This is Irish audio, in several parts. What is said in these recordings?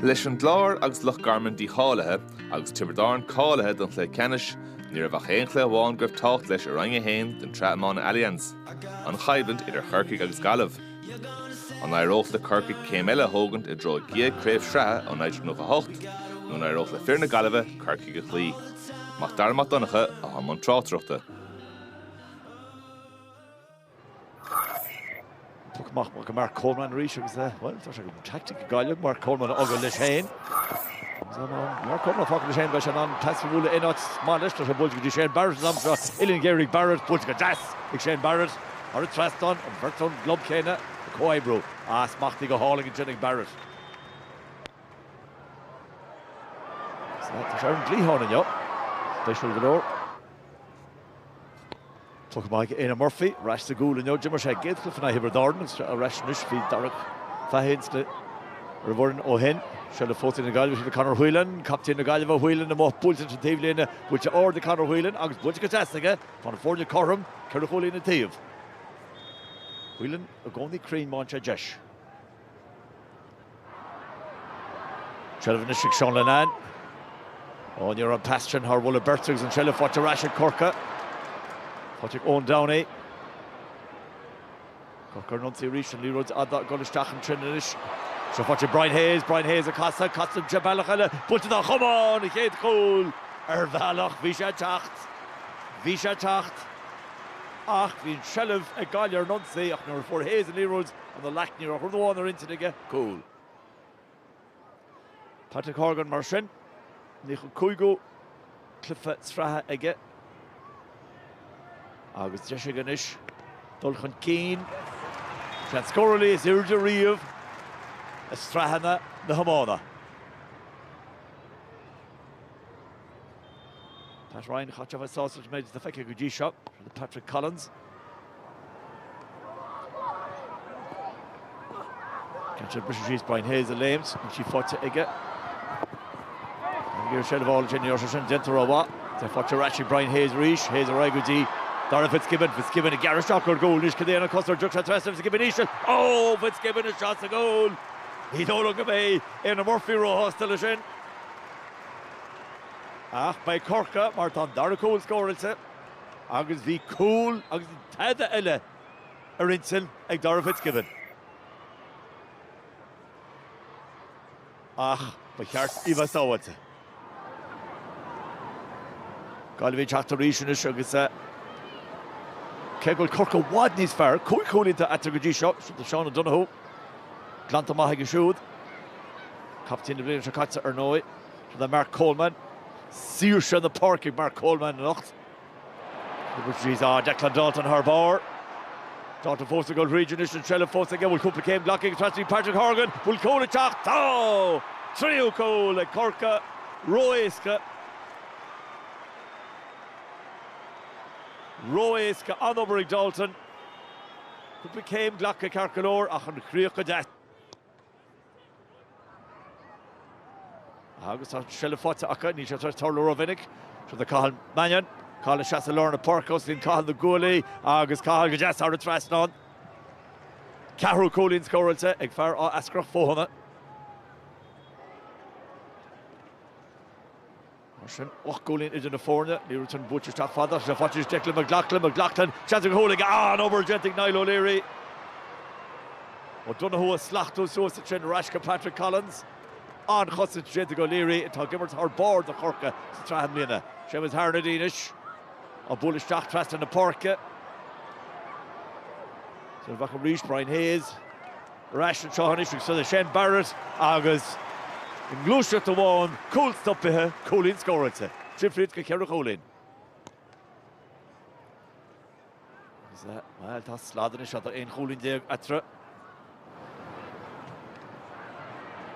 Leis an gClár agus Loch Garman dícháilithe agus Tiobraid Árann cáilithe don chluiche ceannais, ní raibh ach aon chluiche amháin go raibh tábhacht leis i Roinn 1 den tSraith Iomána Allianz, an choimhlint idir Corcaigh agus Gaillimh. An éireodh le Corcaigh céim eile a thógaint i dtreo a gcéad Chraobh Sraithe ó 1998 nó an éireodh le fir na Gaillimhe Corcaigh a chloí? Mac Dara Mac Donncha, a bhí i mbun tráchtaireachta. Tugtha amach go Mark Coleman arís agus é, bhuel, tá sé mar tactic ag Gaillimh, Mark Coleman a fhágáil leis féin. Mark Coleman a fhágáil leis féin, beidh sé in ann pas a bhualadh in áit maith leis, tá sé buailte go dtí Shane Barrett an am seo, uillinn ghéar ag Barrett, buailte go deas ag Shane Barrett, thar an trasnán, an bheirt ón gclub céanna ag comhoibriú, ah, smachtaithe go hálainn ansin ag Barrett. Tá sé ar an gcliathán inniu, spéisiúil go leor. Tugtha amach ag Éanna Murphy, ar ais sa gcúl inniu. D'imir sé sa gcéad chluiche in aghaidh Thiobraid Árann agus tá sé ar ais anois, bhí Darach Fahy ar an bhfoireann ó shin. Seilbh faighte ag na Gaillimhe, seo le Conor Whelan, captaen na Gaillimhe, Whelan amuigh, buailte leis an taobhlíne, buailte ard ag Conor Whelan agus buailte go deas aige, tá na foirne cothrom, ceithre chúilín an taobh. Whelan i gcónaí cruinn, má bhíonn deis. Seilbh anois ag Seán Linnane. Ó, ní raibh an pas sin thar mholadh beirte agus an seilbh faighte ar ais ag Corcaigh. Faighte ag Eoin Downey. Corcaigh ar an ionsaí arís, an liathróid fhada ag dul isteach an treo sin anois. Seilbh faighte ag Brian Hayes, Brian Hayes ag casadh, casadh aige bealach eile, buailte dá chumann, an chéad chúl ar bhealach, bhí sé ag teacht, bhí sé ag teacht ach bhí an seilbh ag Gaillimh ar an ionsaí ach nuair a fuair Hayes an liathróid, ina ghlac ní raibh ach rud amháin ar intinn aige, cúl. Patrick Horgan mar sin nócha cúigiú cluiche sraithe aige agus deis aige anois dul chun cinn ar an scórálaí is airde riamh i sraitheanna na hiomána. Pat Ryan chaithfeadh a bheith sásta leis an méid atá feicthe go dtí seo le Patrick Collins. Caithfidh sé briseadh síos Brian Hayes ag léimt, níl sí faighte aige. Ag iarraidh seilbh a fháil sé inniu, níor sin déanta ró mhaith. Tá faighte ar ais ag Brian Hayes arís, Hayes ar aghaidh go dtí Darragh Fitzgibbon, Fitzgibbon ag gearradh isteach ar gcúl, anois cad é an cos ar dtiocfadh sé trasna Fitzgibbon íseal, ó Fitzgibbon isteach sa gcúl! Ní dóigh liom go mbeidh Éanna Murphy róshásta leis sin ach beidh Corcaigh mar tá an dara cúl scóráilte. Agus bhí cúl agus tada eile ar intinn ag Darragh Fitzgibbon. Ach ba cheart dó a bheith sábháilte. Gaillimh ag teacht arís anois agus cé go bhfuil Corcaigh i bhfad níos fearr, cúig chúilín atá eatarthu go dtí seo. Do Seán O'Donoghue. Glanta maith aige siúd. Captaen na bliana seo caite ar ndóigh do Mark Coleman. saoirse na páirce ag Mark Coleman anocht. Seo Declan Dalton thar barr. Dalton fós ag dul tríd anois an seilbh fós aige bhfuil cúpla céim glactha ag trasna Patrick Horgan bhfuil cúl ag teacht tá! Tríú cúl ag Corcaigh ró-éasca. Ró-éasca an-obair ag Dalton. Cúpla céim glactha ceart go leor ach an chríoch go. Agus tá seilbh faighte acu, níl sé ag tarlú rómhinic. Seo do Cathal Mannion. Cathal ag seasamh i lár na páirce, osclaíonn Cathal na guaillí agus Cathal go deas thar an trasnán. Ceathrú cúilín scóráilte ag fear Áth Eascrach Fothaine. Mar sin, ocht gcúilín idir na foirne. Liathróid sin buaite isteach fada ach seo faighte arís Declan McLoughlin. McLoughlin, seans ar chúl aige, an-obair déanta ag Niall O'Leary. O'Donoghue ag slachtú suas ansin ar ais go Patrick Collins. An-chosaint déanta ag O'Leary atá ag imirt thar barr do Chorcaigh sa tsraith i mbliana. Séamus Harnedy anois á bualadh isteach trasna na páirce. Seo beo arís Brian Hayes. ar ais anseo anois agus seo é Shane Barrett agus i ngluaiseacht amháin cúl stopaithe, cúilín scóráilte. Difríocht go ceithre chúilín. Bhuel, tá slad anois, tá aon chúilín déag eatarthu.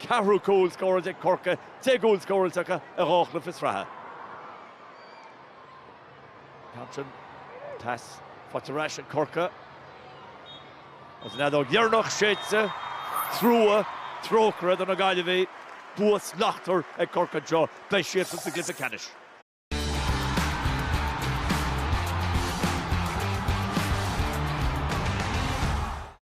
ceathrú cúl scóráilte ag Corcaigh, deich gcúl scóráilte acu i dhá chluiche sraithe. Craobh Thompson faighte ar ais ag Corcaigh. Agus an fheadóg dheireanach séidte, trua, trócaire do na Gaillimhigh, bua slachtmhar ag Corcaigh anseo, beidh siadsan sa gcluiche ceannais.